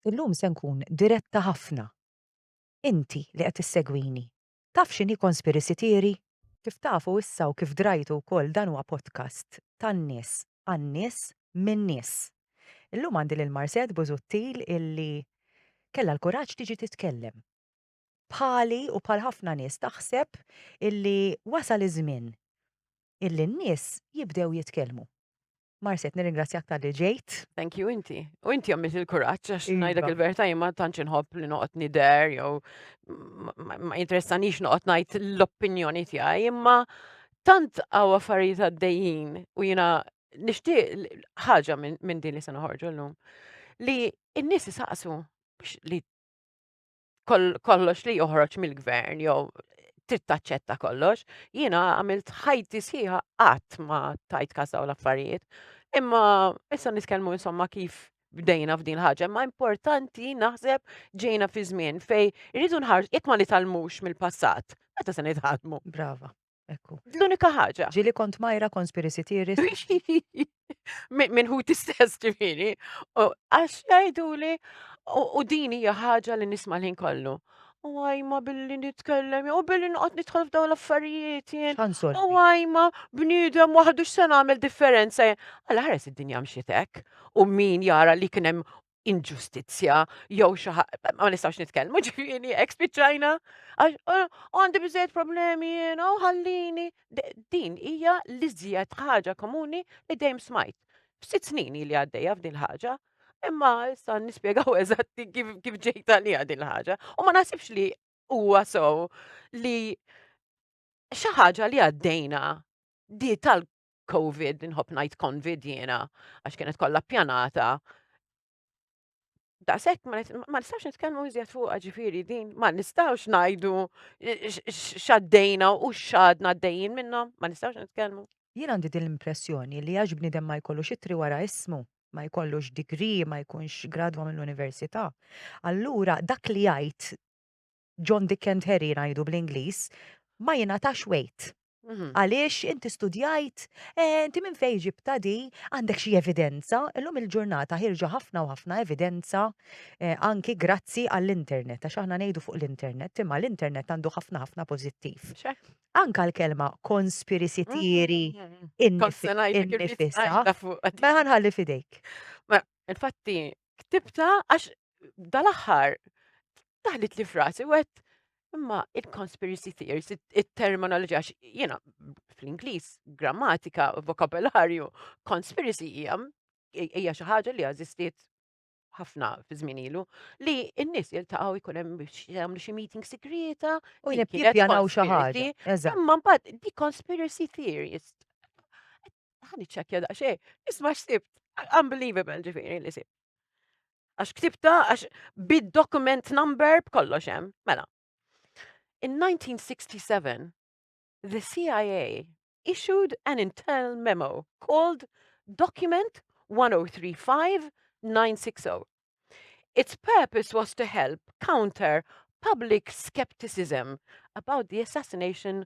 Illum se nkun diretta ħafna. Inti li qed issegwini, taf x'inhi conspiracy theory? Kif tafu issa u kif drajtu wkoll dan huwa podcast tan-nies għan-nies min-nies. Illum għandi lil Marset Busuttil illi kellha l-kuraġġ tiġi titkellem. bħali u bħal ħafna nies taħseb illi wasal iż-żmien illi n-nies jibdew jitkellmu. Marset, nirringrazzjak tal-li ġejt. Thank you, inti. U inti għamilt il-kuraċ, għax iva. najdlek il-verta jimma tanċ nħobb li noqot nider, jew ma interessanix noqot najt l-opinjoni tijaj, imma tant għaw affarijiet għaddejjin u jina nishtiq ħaġa minn din li se noħorġu l-lum. Li n-nis saqsu biex li kollox li joħroġ mill-gvern jew trid taċċetta kollox. Jiena għamilt ħajti sħiħa qatt ma tajt kas dawn l-affarijiet. Imma issa nitkellmu insomma kif bdejna f'din ħaġa, ma importanti naħseb ġejna fi żmien fej irridu nħarġ jekk ma nitalmux mill-passat, meta se nitħadmu. Brava. Ekku. L-unika ħaġa. Ġili kont majra konspirisi tiri. Minn hu tistess ġifiri. Għax jajdu li u dini ħaġa li nisma l-ħin kollu. U għajma billi nitkellem, u billi nqot nitħol f'daw l-affarijiet jien. U għajma bnidem waħdu x'sen għamil differenza. Għala ħares id-dinja mxietek. U min jara li kienem inġustizzja jew xi ma nistgħux nitkellmu ġifieri hekk spiċċajna għax eh, għandi biżejjed problemi jiena u ħallini. Din hija l-iżjed ħaġa komuni li dejjem smajt. F'sitt snin li għaddejja f'din ħaġa, imma issa nispjegaw eżatti kif kif ġejta li din ħaġa. U ma naħsibx li huwa sew li xi ħaġa li għaddejna di tal Covid, nħobb ngħid Convid jiena, għax kienet kollha pjanata. Daqshekk ma nistgħux nitkellmu iżjed fuq ġifieri din, ma nistgħux ngħidu x'għaddejna u x'għadna għaddejjin minnhom, ma nistgħux nitkellmu. Jien għandi din l-impressjoni li għax bniedem ma jkollux itri wara ismu, ma jkollux degree, ma jkunx gradwa mill-università. Allura dak li jgħid John Dick and Harry ngħidu bl-Ingliż, ma jingħatax wejt. Għaliex inti studjajt, eh, inti minn fejn ġibta di, għandek xi evidenza, illum il-ġurnata ħirġa ħafna u ħafna evidenza eh, anki grazzi għall-internet, għax aħna ngħidu fuq l-internet, imma l-internet għandu ħafna ħafna pożittiv. Anka l-kelma conspiracy mm, theory mm, mm, innifisa, ma ħanħalli fidejk. Infatti, ktibta għax dal-aħħar taħlit li frasi u għed imma il-conspiracy theories, il-terminoloġija, jena fl-Inglis, grammatika, vokabularju, conspiracy hija hija xi ħaġa li għażistiet ħafna fi żmien ilu li n-nies jiltaqgħu jkun hemm biex jagħmlu xi meeting sigrieta u jippjanaw xi ħaġa. Imma mbagħad di conspiracy theories. Ħani ċekkja daqsxejn, isma' x'sibt, unbelievable ġifieri li sibt. Għax ktibta, għax bid-document number b'kollox hemm. Mela. In 1967, the CIA issued an internal memo called Document 1035 960. Its purpose was to help counter public skepticism about the assassination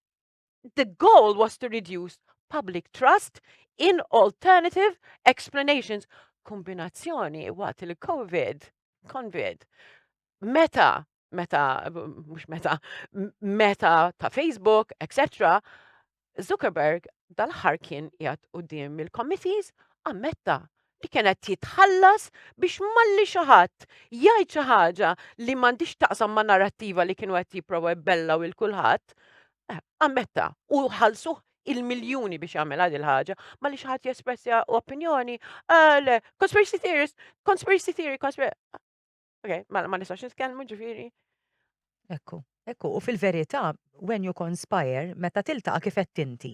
The goal was to reduce public trust in alternative explanations. Kombinazzjoni waqt il-COVID, COVID, meta, meta, mux meta, meta ta' Facebook, etc. Zuckerberg dal-ħar kien jgħat u dim il-committees ammetta li kien qed jitħallas biex malli xi ħadd jgħid xi ħaġa li m'għandix taqsam ma' narrattiva li kienu qed jipprova jbellaw il kulħadd, eh, ammetta u ħallsuh il-miljuni biex jagħmel għad il-ħaġa, ma li xaħat jespressja opinjoni, ah, le, conspiracy theorist, conspiracy theory, conspiracy... Ok, ma, ma nistax nitkellmu ġifiri. Ekku, ekku, u fil-verità, when you conspire, meta tiltaqa kif qed tinti.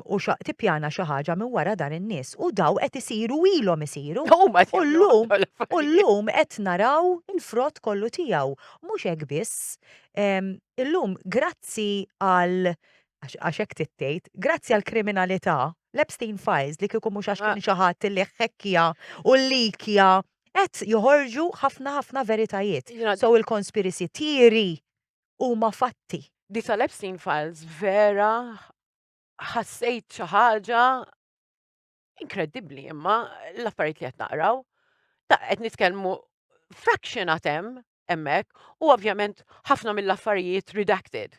U xa tippjana xi ħaġa minn wara dan in-nies u daw qed isiru ilhom isiru. U llum u llum qed naraw il-frott kollu tiegħu. Mhux hekk biss. Illum grazzi għal għax hekk tittejt, grazzi għal kriminalità, l-Epstein Files li kieku mhux għax kien xi ħadd li ħekkja u likja qed joħorġu ħafna ħafna veritajiet. So il-conspiracy theory huma fatti. Di tal-Epstein Files vera ħassejt xi ħaġa inkredibbli imma l-affarijiet li qed naqraw. Ta' qed nitkellmu fraction għatem hemmhekk u ovvjament ħafna mill-affarijiet redacted.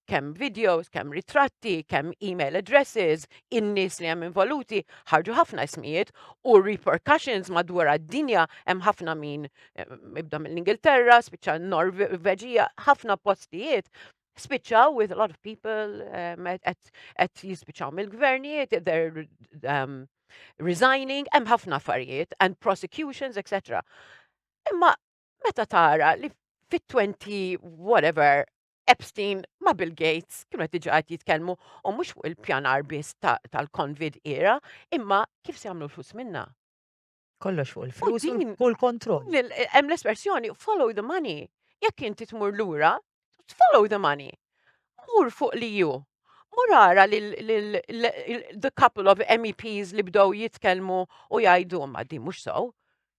Kemm videos, kemm ritratti, kemm email addresses, in-nies li hemm involuti, ħarġu ħafna ismijiet u repercussions madwar d-dinja hemm ħafna min eh, ibda mill-Ingilterra, spiċċa Norveġija, ħafna postijiet spiċċaw with a lot of people um, at jispiċċaw mill-gvernijiet, they're um, resigning, hemm ħafna affarijiet and prosecutions, etc. Imma meta tara li fit-20 whatever Epstein ma' Bill Gates kienu qed diġà qed jitkellmu u mhux fuq il-pjanar biss tal-Convid era, imma kif se jagħmlu l-flus minna. Kollox fuq il-flus u l-kontroll. Hemm l-espressjoni follow the money. Jekk inti tmur lura, follow the money. Mur fuq li ju. Mur ara li the couple of MEPs li bdow jitkelmu u jajdu ma di mux sow.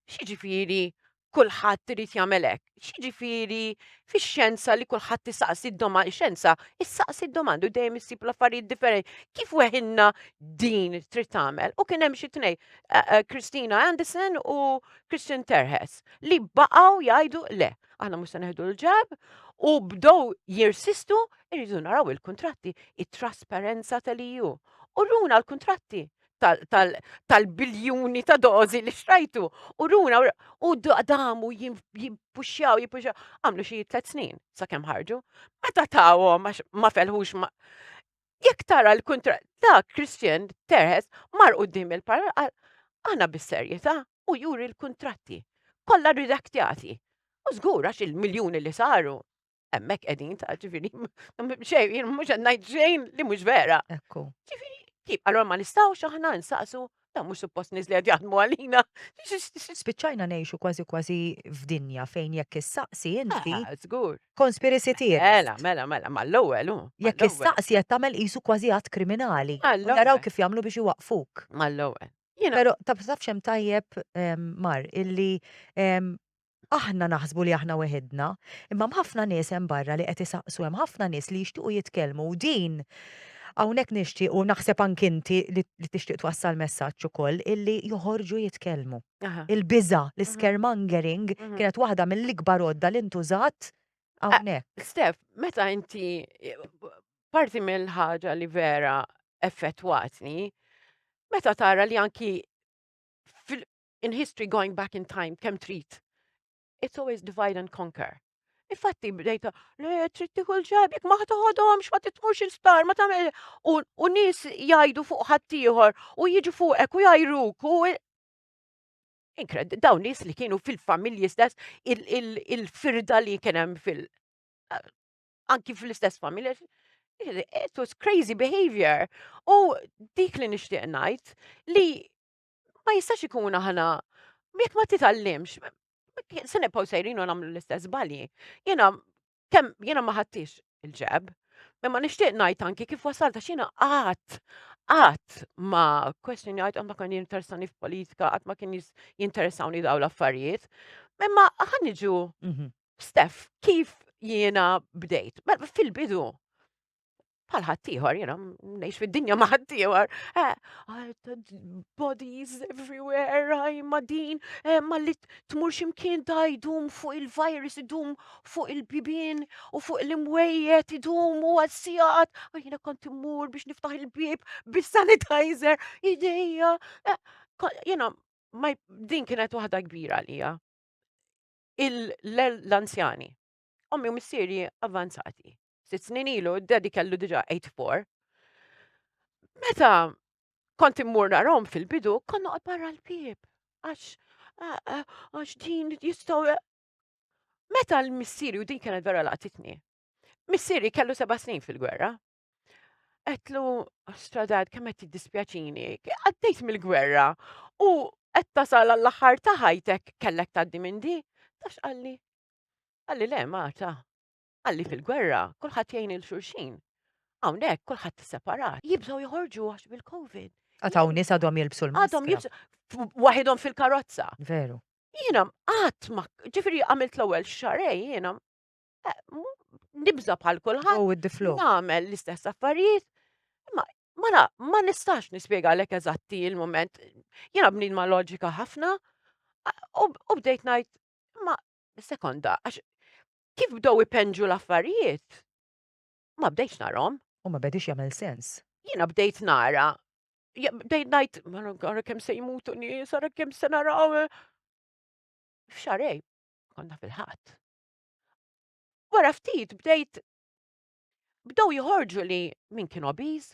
Xieġifiri kullħat trid jamelek. Xieġifiri fi xenza li kullħat tisaqsi d-domanda, xenza, issaqsi d-domanda u dejjem issib l-affarijiet differenti. Kif weħinna din trid tagħmel? U kien hemm xi tnej, eh, eh, Christina Anderson u Christian Terhes, li baqgħu jgħidu le. aħna mhux se neħdu l-ġab u bdow jirsistu irridu naraw il-kuntratti, it-trasparenza tal-EU. U runa l-kuntratti tal-biljuni ta' dozi li xrajtu. U runa, u damu jimpuxjaw, jimpuxjaw, għamlu xie tlet snin, sa' kem ħarġu. Meta tawom, ma felħux ma. Jekk tara l-kuntra ta' Christian Terhes mar qudiem il-parla qal aħna bis-serjetà u juri l-kuntratti kollha ridaktjati. U żgur għax il-miljuni li saru hemmhekk qegħdin ta' ġifieri xejn mhux qed ngħid xejn li mhux vera. Ekku. Ġifieri, allora ma nistgħux aħna nsaqsu Da mhux suppost nies li qed jaħdmu għalina. Spiċċajna ngħixu kważi kważi f'dinja fejn jekk issaqsi inti. Ah, żgur. Konspirisi tiegħek. Mela, mela, mela, mal-ewwel hu. Jekk issaqsi qed tagħmel qisu kważi għad kriminali. Naraw kif jagħmlu biex iwaqfuk. Mal-ewwel. Però taf xem tajjeb ehm, mar illi ehm, Aħna naħsbu li aħna weħidna, imma hemm ħafna nies hemm barra li qed isaqsu, hemm ħafna nies li jixtiequ jitkellmu u din hawnhekk nixtieq u naħseb anki inti li li tixtieq twassal messaġġ ukoll illi joħorġu jitkellmu. Il-biża', l-iscaremongering kienet waħda mill-ikbar għodda li ntużat hawnhekk. Steph, meta inti parti mill-ħaġa li vera effettwatni, meta tara li anki in history going back in time kemm trid. It's always divide and conquer. Infatti bdejta, le trid tieħu l-ġab, jekk ma ħadohomx ma titmurx il-sptar, ma tagħmel u nies jgħidu fuq ħaddieħor u jiġu fuqek u jgħajruk u inkred daw nies li kienu fil-familji stess il-firda li kien hemm fil- anki fl-istess familja it was crazy behavior. U dik li nixtieq ngħid li Ma jistax ikun aħna, jekk ma titgħallimx, se nibqgħu sejrin u nagħmlu l-istess balji. Jiena kemm jiena ma ħadtix il-ġeb, imma nixtieq ngħid anki kif wasalta x'jiena qatt qatt ma question jgħid qatt ma kien jinteressani f'politika, qatt ma kien jinteressawni daw l-affarijiet. Imma ħaniġu mhm. Stef, kif jiena bdejt? Mela, fil-bidu, bħal ħaddieħor, jena, nejx fid-dinja ma ħaddieħor, eh, bodies everywhere, għaj ma din, eh, ma li tmur ximkien da jdum fuq il-virus, idum fuq il-bibin u fuq l-imwejjet, idum u għal-sijat, u jena kont immur biex niftaħ il-bib bis-sanitizer, ideja, eh, jena, ma din kienet waħda kbira għalija. L-anzjani, ommi u missieri avanzati sitt snin ilu, d-daddy kellu diġa 84. Meta kont immur narom fil-bidu, konna għad barra l-bib. Għax, għax din jistaw. Meta l-missiri, u din kienet vera laqtitni, missiri kellu seba snin fil-gwerra. Għetlu, stradad, kemmet dispjaċini, għaddejt mill-gwerra, u għed tasal għall-axar taħajtek kellek taddi minn di, tax għalli. Għalli le, Marta, Qal li fil-gwerra kulħadd jgħin lil xulxin. Hawnhekk kulħadd separat. Jibżgħu joħorġu għax bil-Covid. Għad hawn nies għadhom jilbsu l-maskra. Għadhom jilbsu waħidhom fil-karozza. Veru. Jiena qatt ma ġifieri għamilt l-ewwel xarej jiena eh, nibża bħal kulħadd. Oh, with the flow. Nagħmel l-istess affarijiet. Ma mela, ma nistax nispjega lek eżatti il-moment. Jiena bnin ma loġika ħafna u bdejt ngħid ma sekonda għax Kif bdew ipenġu l-affarijiet, ma bdejtx narhom. U ma bedix jagħmel sens. Jiena bdejt nara, bdejt ngħid, ara kemm se jmutu nies, ara kemm se naraw. F'xarej, konna fil-ħadd. Wara ftit bdejt bdew jħorġu li min kien obiż,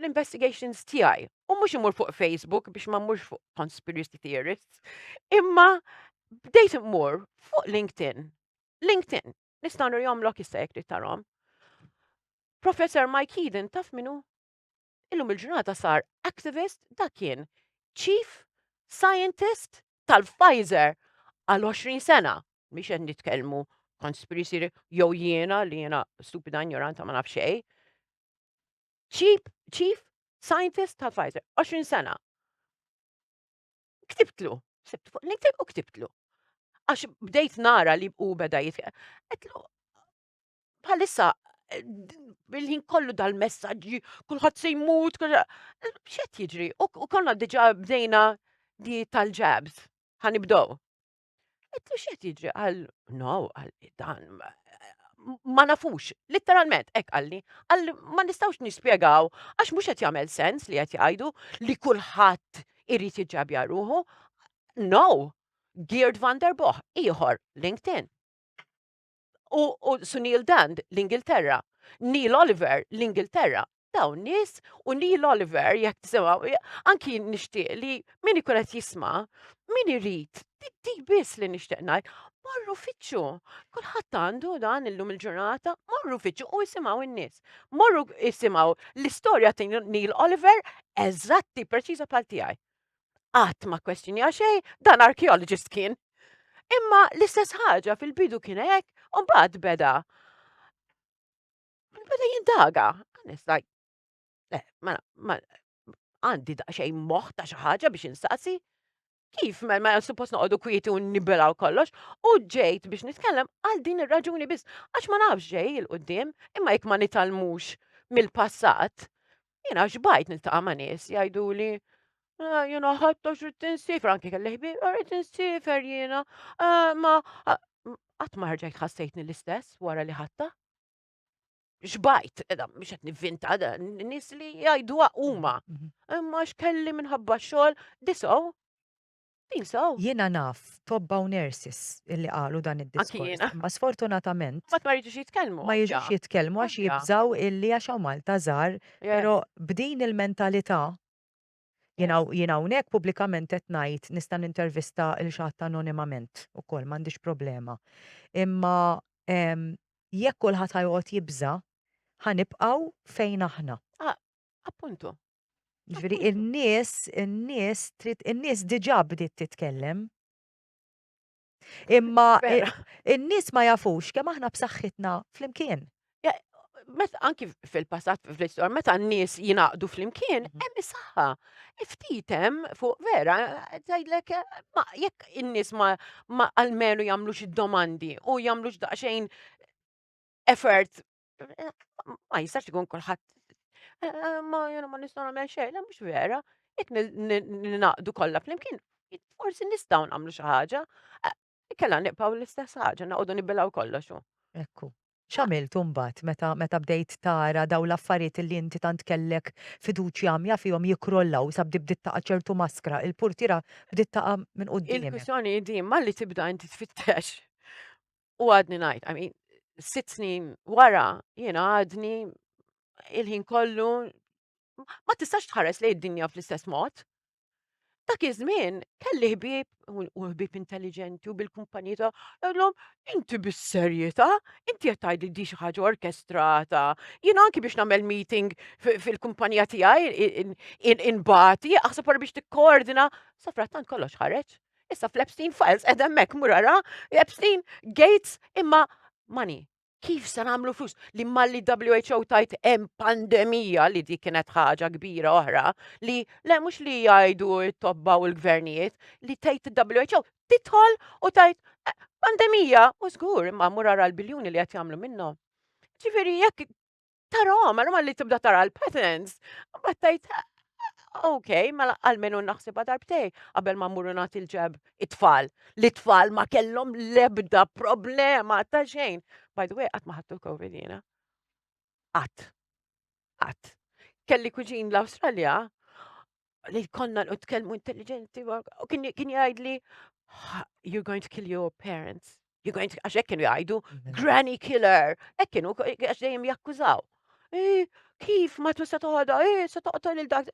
l-investigations tiegħi. U mhux imur fuq Facebook biex ma mmurx fuq conspiracy theorists, imma bdejt immur fuq LinkedIn. LinkedIn, nistgħu nirjomlok issa jekk trid tarhom. Professor Mike Eden taf minnu illum il-ġurnata sar activist dak kien chief scientist tal-Pfizer għal 20 sena. Miex qed nitkellmu conspiracy jew jiena li jiena stupida ignoranta ma nafxej. Chief, chief Scientist ta' Pfizer, 20 sena. Ktibtlu, sibtu fuq LinkedIn u ktibtlu. Għax bdejt nara li u beda jitħe. Għetlu, bħalissa, bil-ħin kollu dal-messagġi, kullħat se jmut, xet jiġri, u konna diġa bdejna di tal-ġabs, ħanibdow. Qed li x'qed jiġri għal no għalli dan ma nafux, literalment hekk għalli, għalli ma nistgħux nispjegaw għax mhux qed jagħmel sens li qed jgħidu li kulħadd irid jiġġabja ruħu. No, Geert van der Boh, ieħor, LinkedIn. u, u Sunil Dand l-Ingilterra, Neil Oliver l-Ingilterra, dawn nies u Neil Oliver jekk tisimgħu anki nixtieq li min ikun qed jisma' min irid di biss li nixtieq ngħid morru fiċċu. Kulħadd għandu dan illum il-ġurnata, morru fiċċu u jisimgħu n-nies. Morru jisimgħu l-istorja ta' Neil Oliver eżatti preċiża bħal tiegħi. qatt ma kwestjonja xejn, dan archaeologist kien. Imma l-istess ħaġa fil-bidu kien hekk, u mbagħad beda. Beda jindaga. Nista' le, ma għandi daqsxejn moħħ ta' xi ħaġa biex insaqsi. Kif ma ma suppost noqogħdu kwieti u nibelaw kollox, u ġejt biex nitkellem għal din ir-raġuni biss għax ma nafx ġej il-qudiem, imma jekk ma nitalmux mill-passat, Jiena xbajt niltaqa' ma' nies jgħiduli ah, jiena ħadd għax rrid insifer anke kelli ħbieb ah, rrid insifer jiena ah, ma ah, qatt ma ħarġajt ħassejtni l-istess wara li ħatta. Xbajt, edha, mhux qed nivvinta, da, n- nies li jgħidu huma. Mhm. Imma x'kelli minħabba xogħol disaw Think so? Jiena naf tobba u nurses illi qalu dan Anki id-diskors, jiena. imma sfortunatament Qatt ma jridux jitkellmu. ma jiġux jitkellmu għax Ovvja. jibżgħu illi għax hawn Malta żgħar, Eh, però b'din il-mentalità jien Eh. hawn- jien hawnhekk pubblikament qed ngħid nista' nintervista lil xi ħadd anonimament ukoll m'għandix problema. Imma ehm, jekk kulħadd ħa joqgħod jibża' ħa nibqgħu fejn aħna. Appuntu. Ġviri, in-nies, in-nies, in-nies diġa bdiet titkellem. Imma in-nies ma jafux kemm aħna b'saħħitna flimkien. Met anki fil-passat fil-istor, meta n-nies jinaqdu flimkien, mhm. hemm is-saħħa. Iftitem fuq vera, tgħidlek jekk in-nies ma almenu jagħmlux id-domandi u jagħmlux daqsxejn effort Ma jistax ikun kulħadd eh, eh, ma jena ma nistgħu nagħmel xejn, le mhux vera, jekk ninaqdu kollha flimkien, forsi nistgħu nagħmlu xi ħaġa. Eh, Kella nibqgħu l-istess ħaġa, naqogħdu nibilgħu kollox. Ekku. X'għamilt imbagħad meta meta bdejt tara daw l-affarijiet li inti tant kellek fiduċja għamja fihom jikrollaw sa bdi bdiet taqa' ċertu maskra, il-purtira bdiet taqa' minn quddiem. Il-kwistjoni di ma li tibda inti tfittex U għadni ngħid, I mean, sitt snin wara jiena għadni il-ħin kollu ma tistax tħares lejn id-dinja fl-istess mod. Dak iż-żmien kelli ħbieb u ħbieb intelligenti u bil-kumpanija ta' għallhom inti bis-serjetà, inti qed tgħid li di xi ħaġa orkestrata. Jiena anki biex nagħmel meeting fil-kumpanija tiegħi inbati, aħseb wara biex tikkoordina, sa frattant kollox ħareġ. Issa fl-Epstein Files qed hemmhekk mur ara Epstein Gates imma money. Kif se nagħmlu flus li malli WHO tajt hemm pandemija li dik kienet ħaġa kbira oħra li le mhux li jgħidu t-tobba u l-gvernijiet li tgħid WHO titħol u tajt eh, pandemija u żgur imma mur ara l-biljuni li qed jagħmlu minnhom. Ġifieri jekk tarahom, għal malli tibda tara l-patterns, mbagħad tajt ok, mela għalmenu naħsibha darbtej qabel ma mmuru nagħti l-ġeb it-tfal. Li tfal ma kellhom lebda problema ta' xejn. By the way, qatt ma ħadtu l-Covid jiena. Qatt. Qatt. Kelli kuġin l-Awstralja li konna u tkellmu intelligenti u kien jgħidli you're going to kill your parents. You're going to, għax hekk kienu jgħidu, mhm. granny killer, hekk kienu għax dejjem jakkużaw. Eh, kif ma tu se toħodha, eh, se toqtol il dak.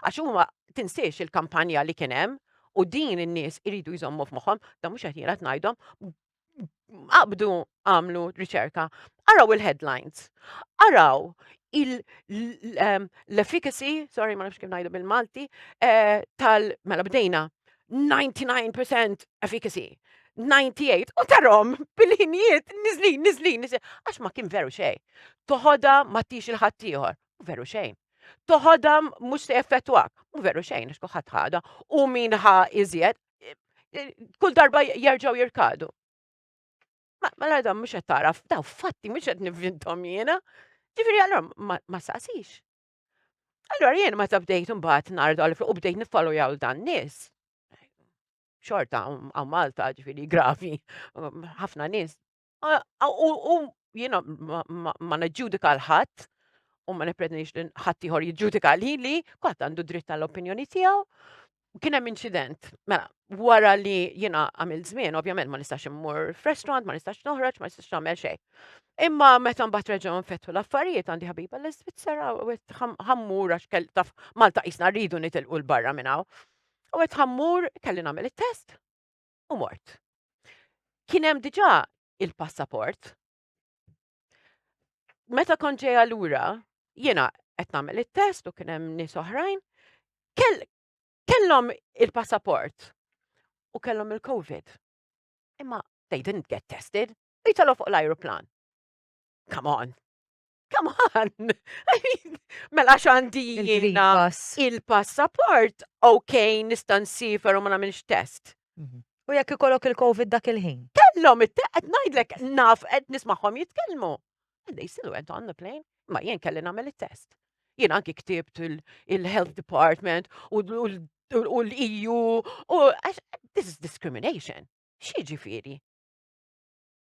Għax huma tinsiex il-kampanja li kien hemm u din in-nies iridu jżommu f'moħħhom, da mhux qed jierat ngħidhom, qabdu għamlu riċerka, araw il-headlines, araw l-efficacy, sorry ma nafx kif ngħidu bil-Malti, eh, tal mela bdejna 99% efficacy, 98 u tarom bil-ħinijiet nizlin, nizlin, nizlin, għax ma kien veru xej. Toħoda ma tix il-ħattijħor, veru xejn. Toħoda mux se effettwak, veru xejn, għax kuħat ħada, u min ħa iżjed, kull darba jerġgħu jirkadu. Mela dan mhux qed taraf, daw fatti mhux qed nivvintom jiena. Ġifieri allura ma saqsix. Allura jien meta bdejt imbagħad nardu għal u bdejt niffalu jaw dan nies. Xorta għaw Malta ġifieri gravi, ħafna nies U jiena ma neġġudika l-ħadd u ma niprednix li ħadd ieħor jiġġudika li li kwatt għandu dritt tal-opinjoni tiegħu. Kien hemm inċident, mela, wara li jiena għamil żmien, ovvjament ma nistax immur f'restaurant, ma nistax noħroġ, ma nistax nagħmel xejn. Imma meta mbagħad reġgħu nfettu l-affarijiet għandi ħabiba l-Iżvizzera u qed ħammur għax kell taf Malta qisna rridu nitilqu l-barra minn hawn. U qed ħammur kelli nagħmel it-test. u mort. Kien hemm diġà il-passaport. Meta kon ġejja lura, jiena qed nagħmel it-test u kien hemm nies oħrajn, kellhom il-passaport u kellhom il-COVID. Imma they didn't get tested, jitalgħu fuq l-ajruplan. Come on. Come on. I mean, mela xandi jiena il-passaport, ok, nistan sifer u ma namilx test. Mhm. U jekk ikollok il-Covid dak il-ħin. Kellhom it-teqet ngħidlek naf qed nismagħhom jitkellmu. And they still went on the plane. Ma jien kelli nagħmel it-test. Jien anki ktibt il-Health Department u l-EU u this is discrimination. Xi ġifieri?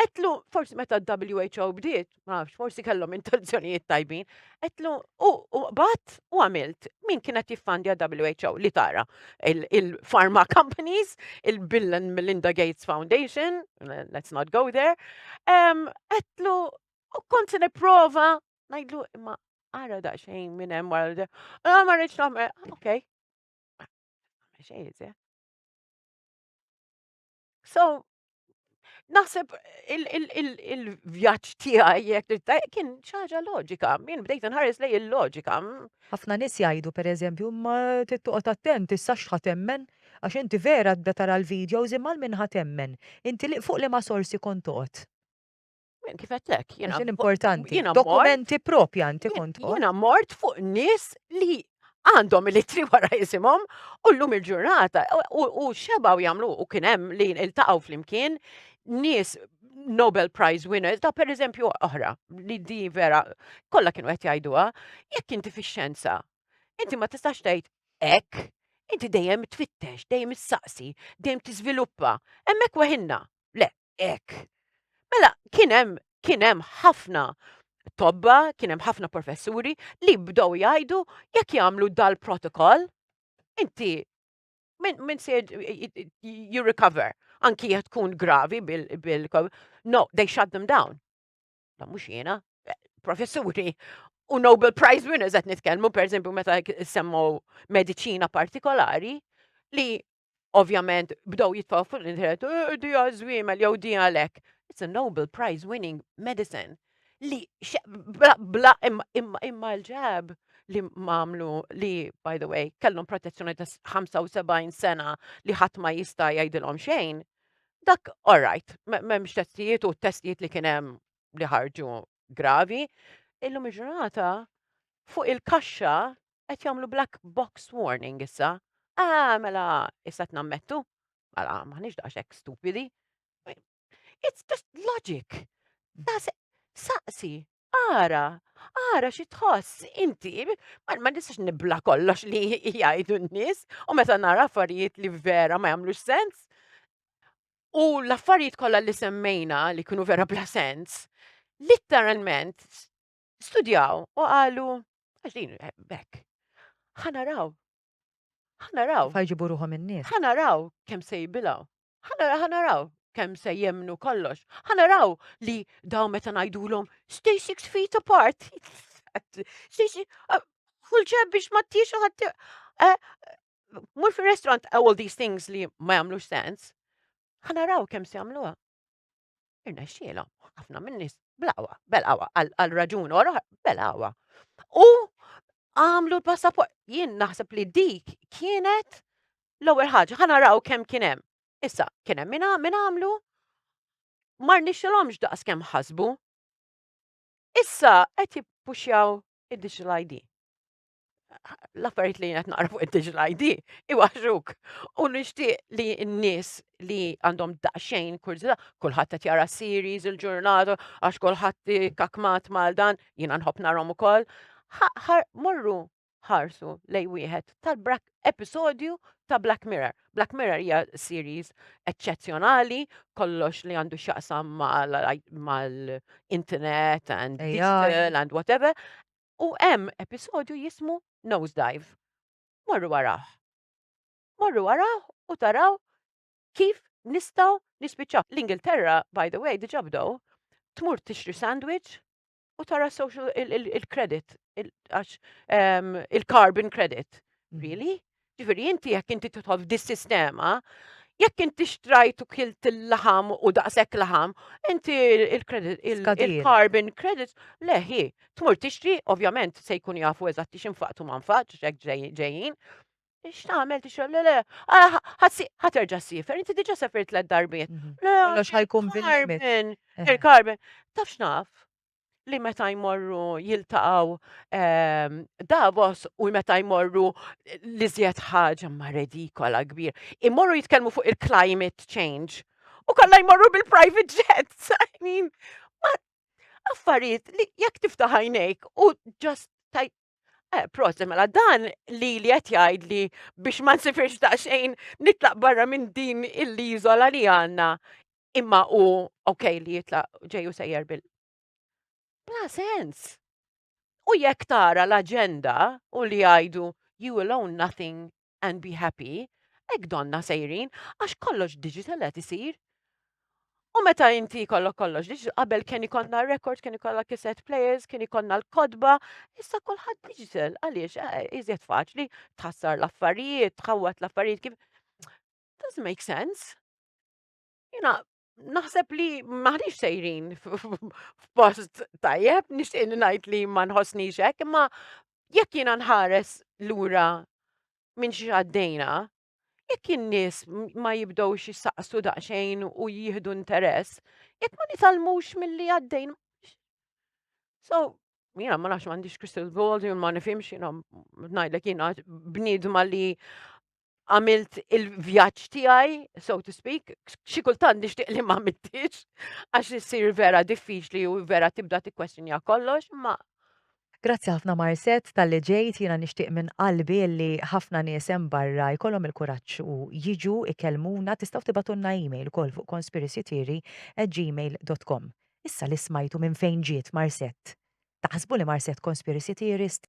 Etlu, forsi meta WHO bdiet, ma nafx, forsi kellhom intenzjonijiet tajbin, etlu u qbad u għamilt min kienet jiffandja WHO li tara il-pharma companies, il-Bill and Melinda Gates Foundation, let's not go there, etlu u kont se nipprova ngħidlu imma ara daqsxejn minn hemm wara ah, ma rridx nagħmel, ah, okej. Xejn, So, naħseb il-vjaġġ tiegħi jekk kien xi ħaġa loġika, min bdejt nħares lej il-loġika. Mm. Ħafna nies jgħidu pereżempju ma tittoqgħod attent issa x'ħadd temmen għax inti vera tbda tara l-videos imma minn ħadd temmen. Inti li fuq li ma sorsi kont toqgħod. Min kif għettek, jena. Għaxin importanti. Jena dokumenti propja inti kont. Jena mort fuq nis li għandhom il-litri wara jisimhom u llum il-ġurnata u xebaw jagħmlu u kien hemm li iltaqgħu flimkien nies Nobel Prize winners ta' per eżempju oħra li di vera kollha kienu qed jgħiduha jekk inti fix-xjenza inti ma tistax tgħid hekk inti dejjem tfittex, dejjem issaqsi, dejjem tiżviluppa, hemmhekk weħinna. Le, hekk. Mela kien hemm kien hemm ħafna tobba, kien hemm ħafna professuri li bdew jgħidu jekk jagħmlu dal-protokoll inti minn se you recover anki jekk tkun gravi bil no they shut them down. Ma mhux jiena, professuri u Nobel Prize winners qed nitkellmu pereżempju meta semmu mediċina partikolari li ovvjament bdew jitfaw fuq l-internet, eh, di għazwimel jew di għalek. It's a Nobel Prize winning medicine li bla imma l-ġab li mamlu li, by the way, kellhom protezzjoni ta' 75 sena li ħadd ma jista' jgħidilhom xejn, dak all right, m'hemmx testijiet u testijiet li kien hemm li ħarġu gravi, illum il-ġurnata fuq il-kaxxa qed jagħmlu black box warning issa. Ah, mela, issa tnammettu. Mela, maħniex daqshekk stupidi. It's just logic. Saqsi, ara, ara xi tħoss inti, ma nistax nibla kollox li jgħidu n-nies, u meta nara affarijiet li vera ma jagħmlux sens. U l-affarijiet kollha li semmejna li kienu vera bla sens, literalment studjaw u qalu, għax din bekk, ħanaraw, ħanaraw. Fajġibu ruħom in-nies. Ħanaraw kemm se jibilaw. Ħanaraw kemm se jemnu kollox. Ħanaraw li daw meta ngħidulhom stay six feet apart. Uh, kull ċeb biex ma tix ħadd. Eh, mur fir-restaurant all these things li ma jagħmlux sens. Ħanaraw kemm se jagħmluha. Irnexxielhom ħafna min-nies bl-aqwa, bel-aqwa, għal raġun or bel-aqwa. U għamlu l-passaport. Jien naħseb li dik kienet l-ewwel ħaġa, ħana raw kemm kien hemm. Issa, kien hemm min għamlu, mar nixxilhomx daqs kemm ħasbu. Issa qed jippuxjaw id-digital ID. l-affarijiet li qed naqra fuq id-digital ID iwaħġuk. U nixtieq li n-nies li għandhom daqsxejn kurżità, kulħadd qed jara series il-ġurnata għax kulħadd kakmat mal dan, jiena nħobb narhom ukoll. Morru ħarsu lej wieħed tal-brak episodju ta' Black Mirror. Black Mirror hija series eċċezzjonali, kollox li għandu x'jaqsam mal-internet and digital and whatever. u hemm episodju jismu Nosedive. Morru arah. Morru arah u taraw kif nistgħu nispiċċaw. L-Ingilterra, by the way, diġà bdew, tmur tixtri sandwich u tara social il-credit, il-carbon credit. Really? Ġifieri inti jekk inti tidħol f'dis-sistema, jekk inti xtrajt u kilt il-laħam u daqshekk laħam, inti il-credit, il- Skadir. il-carbon credits, le hi, tmur tixtri, ovvjament se jkun jafu eżatt li xinfaqtu ma nfaqx, hekk ġej- ġejjin. X'tagħmel tixrab, le le, ah, ħatsi- ħaterġa' ssifer, inti diġà sefir tliet darbiet. Mhm. Le, Kollox ħajkun bil-limit. carbon, Eh. il-carbon, taf x'naf? li meta jmorru jiltaqgħu ehm, Davos u meta jmorru li zjed ħaġa ma redikola kbir. Imorru jitkellmu fuq il-climate change u kollha jmorru bil-private jets. I mean, affarijiet li jekk tiftaħajnejk u just Eh, prost, mela dan li li qed jgħid li biex ma nsifirx daqsxejn nitlaq barra minn din il-liżola li għandna imma u ok li jitlaq ġeju sejjer bil. Bla sens. U jekk tara l-aġenda u li jgħidu you will own nothing and be happy, hekk donna sejrin għax kollox digital qed isir. U meta inti kollok kollox, diġ qabel kien ikonna record, kien ikollha cassette players, kien ikonna l-kodba, issa kulħadd digital, għaliex eh, iżjed faċli tħassar l-affarijiet, tħawwat l-affarijiet kif. Doesn't make sense. Jina, naħseb li maħniex sejrin f'post tajjeb, nixtieq li ngħid li ma nħossnix hekk, imma jekk jiena nħares lura minn xi għaddejna, jekk in-nies ma jibdewx jissaqsu daqsxejn u jieħdu interess, jekk ma nitalmux milli għaddejn. So, jiena ma nafx m'għandix crystal ball, ma nifhimx jiena ngħidlek jiena bniedma li għamilt il-vjaġġ tiegħi, so to speak, xi kultant nixtieq li ma mittix, għax issir vera diffiċli u vera tibda tikkwestjonja kollox, ma Grazzi ħafna Marset tal-li ġejt jiena nixtieq minn qalbi li ħafna nies hemm barra jkollhom il-kuraġġ u jiġu ikellmuna tistgħu tibatunna email ukoll fuq conspiracytheory@gmail.com. Issa li smajtu minn fejn ġiet Marset. Taħsbu li Marset conspiracy theorist?